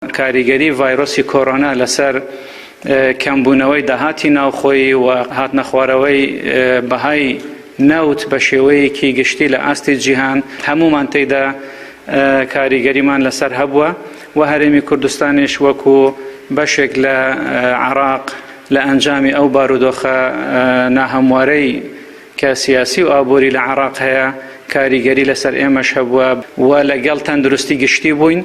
کاریگەری ڤایرۆسی کۆرۆنا لەسەر کەمبوونەوەی داهاتی ناوخۆیی و هاتنەخوارەوەی بەهای نەوت بە شێوەیەکی گشتی لە ئاستی جیهان هەموومان تێیدا کاریگەریمان لەسەر هەبووە و هەرێمی کوردستانیش وەکو بەشێک لە عێراق لە ئەنجامی ئەو بارودۆخە ناهەموارەی کە سیاسی و ئابووری لە عێراق هەیە کاریگەری لەسەر ئێمەش هەبووە و لەگەڵ تەندروستی گشتی بووین.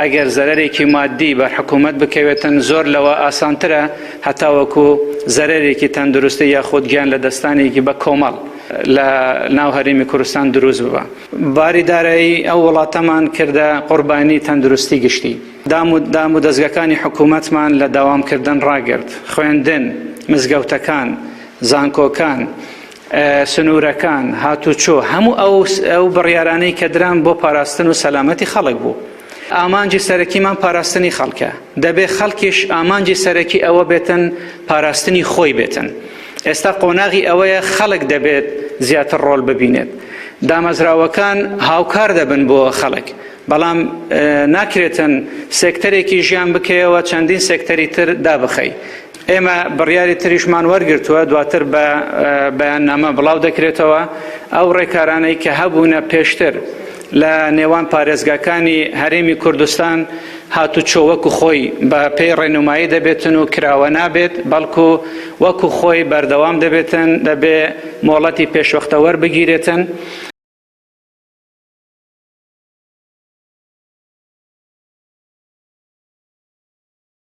ئەگەر زەرەرێکی ماددی بەر حکوومەت بکەوێتن زۆر لەوە ئاسانترە هەتاوەکو زەرەرێکی تەندروستی یاخود گیان لە دەستانێکی بە کۆمەڵ لە ناو هەرێمی کوردستان دروست ببە باری دارایی ئەو وڵاتەمان کردە قوربانی تەندروستی گشتی دام و دام و دەستگەکانی حکوومەتمان لە داوامکردن ڕاگرت خوێندن مزگەوتەکان زانکۆکان سنوورەکان، هاتوچۆ، هەموو ئەو بڕیارانەی کە دران بۆ پاراستن و سەلامەتی خەڵک بوو. ئامانجی سەرەکیمان پاراستنی خەڵکە، دەبێت خەڵکیش ئامانجی سەرەکی ئەوە بێتن پاراستنی خۆی بێتن. ئێستا قۆناغی ئەوەیە خەڵک دەبێت زیاتر ڕۆڵ ببینێت. دامەزراوەکان هاوکار دەبن بۆ خەڵک، بەڵام ناکرێتن سێکتەرێکی ژیان بکەیەوە چەندین سێکتەری تر دابخەی. ئێمە بڕیاری تریشمان وەرگرتووە دواتر بە بەیاننامە بڵاو دەکرێتەوە ئەو ڕێکارانەی کە هەبوونە پێشتر لە نێوان پارێزگاکانی هەرێمی کوردستان هاتوچۆ وەکو خۆی بە پێی ڕێنمایی دەبێتن و کراوە نابێت بەڵکو وەکو خۆی بەردەوام دەبێتن دەبێ مۆڵەتی پێشوەختەوەەر بگیرێتن